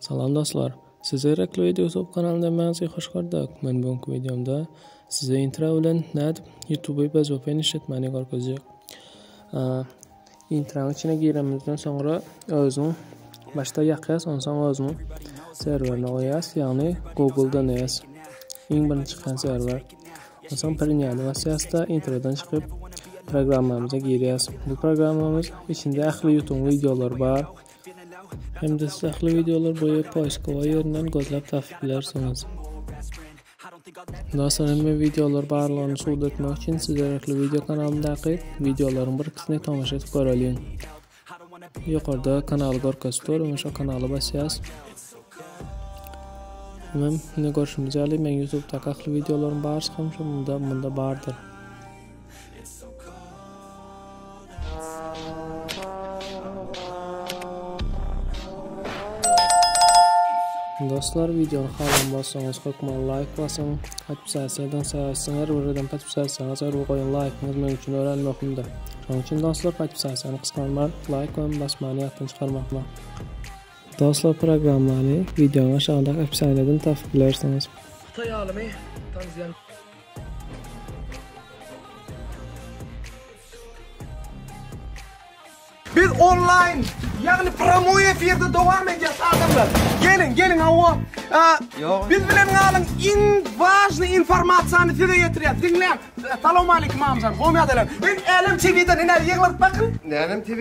Salam dostlar! Size Erekli Video YouTube kanalyndan Magzy hoş gördük! Men bu günki videomda Size intro bilen nädip YouTube bez vpn işletmäni görkezjek. Intranyň içine giremizden soňra özüň başda ýakýas, onsoň özüň serwerine goýýas, ýagny Google DNS iň birinji çykan serwer. Onsoň Priniany basýas-da introdan çykyp programmamyza girýas. Bu programmamyz içinde ähli YouTube videolary bar. Hem-de siz ähli wideolar boýy poiskowa ýerinden gözläp tapyp bilersiňiz. Dostlar, hemme wideolar barlygyny subut etmek üçin siz derekli wideo kanalyndaky wideolaryň bir ikisini tomaşa edip göreliň. Ýokarda kanaly görkezip dur, öňe şo kanaly basýas. Mem, ne görşümiz ýaly, men YouTube-daky ähli wideolaryň barysy hem şo munda, munda bardyr. Dostlar videony halam bolsaňyz hökman like basyň. Podpisasiýa eden saýasyň her bir eden podpisasiýaňyz her bir goýan laýkyňyz meniň üçin örän möhümdir. Şonuň üçin dostlar podpisasiýany gysganman laýk goýup basmany ýatdan çykarmakma. Dostlar programmany videonyň aşagyndaky opsiýalardan tapyp bilersiňiz. Hytaý alymy Tang Ziyan Biz online yani promoy efirde devam edýäs adamlar. Gelin, gelin hawa. Ýok. Biz bilen galyň. Iň wažny informasiýany size ýetirýär. Diňläň. Salam aleykum amjan. Gowy ýagdaýlar. Men Älem TV-den ine ýyglaryp bakyn. Älem TV.